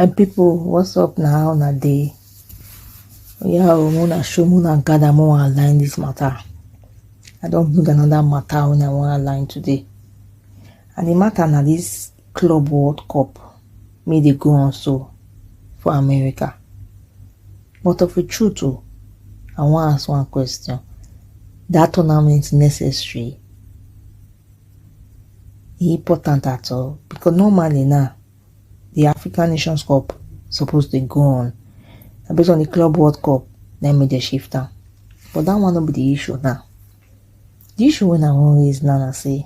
my people what's up now how una dey oya o mo na show mo na gather mo wan align this matter i don bring another matter wey i wan align today and the matter na this club world cup make dey go on so for america but of a truth o oh, i wan ask one question that tournament necessary e important at all because normally now the african nations cup suppose dey go on na based on the club world cup na make dem shift am but that one no be the issue now the issue wey i wan raise now na say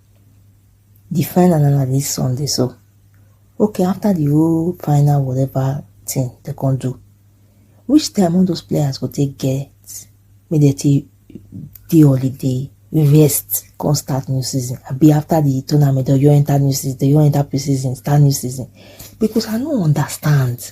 the final na na this sunday so okay after the whole final whatever thing they can do which time all those players go take get make dem take dey holiday rest come start new season I be after the tournament or you enter new season they you enter pre-season start new season because i no understand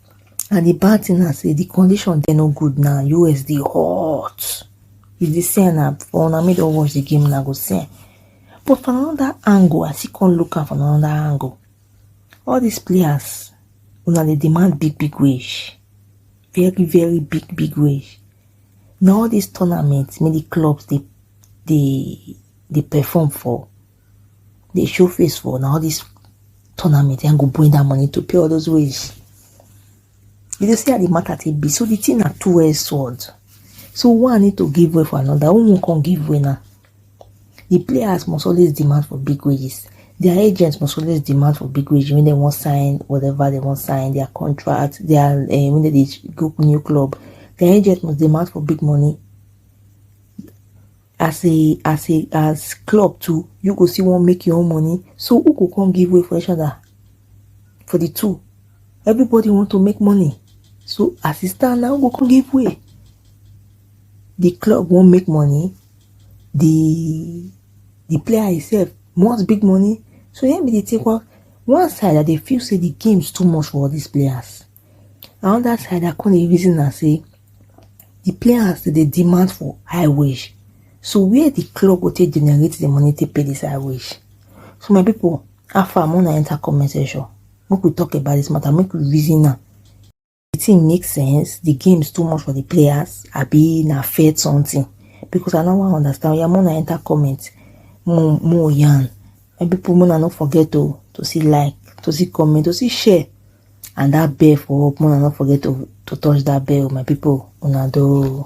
And the bad thing na say the condition dey no good now. US dey hot. You dey see am na for una make don watch the game na go see am. But from another angle, I still come look am from another angle. All these players, una dey demand big big wage, very very big big wage. Na all these tournaments make the clubs dey dey dey perform for. dey show face for na all this tournament and go bring that money to pay all those ways. You dey see how the matter take be. So the thing na two-edged sword. So one need to give way for another. One can give way now. The players must always demand for big wages. Their agents must always demand for big wages when they want sign whatever they want sign their contract. Their uh, when they go new club, their agents must demand for big money. as a as a as club too you go see one make your own money so who go come give way for each other for the two everybody want to make money so as e stand now go come give way the club won't make money the the player himself wants big money so yeah, me dey take one one side i they feel say the games too much for all these players Another side I come dey reason am sey de players dem dey demand for high wage so where de club go take generate de money take pay dis high wage? So my pipu how far make una enter comment section make we talk about dis matter make we reason am. De thing make sense? De games too much for de players abi na fair something because I no wan understand oya make una enter comment make we yarn my pipu make una no forget oo to still like to still comment to still share. and that bell for up make una no forget to to touch that bell my people una do.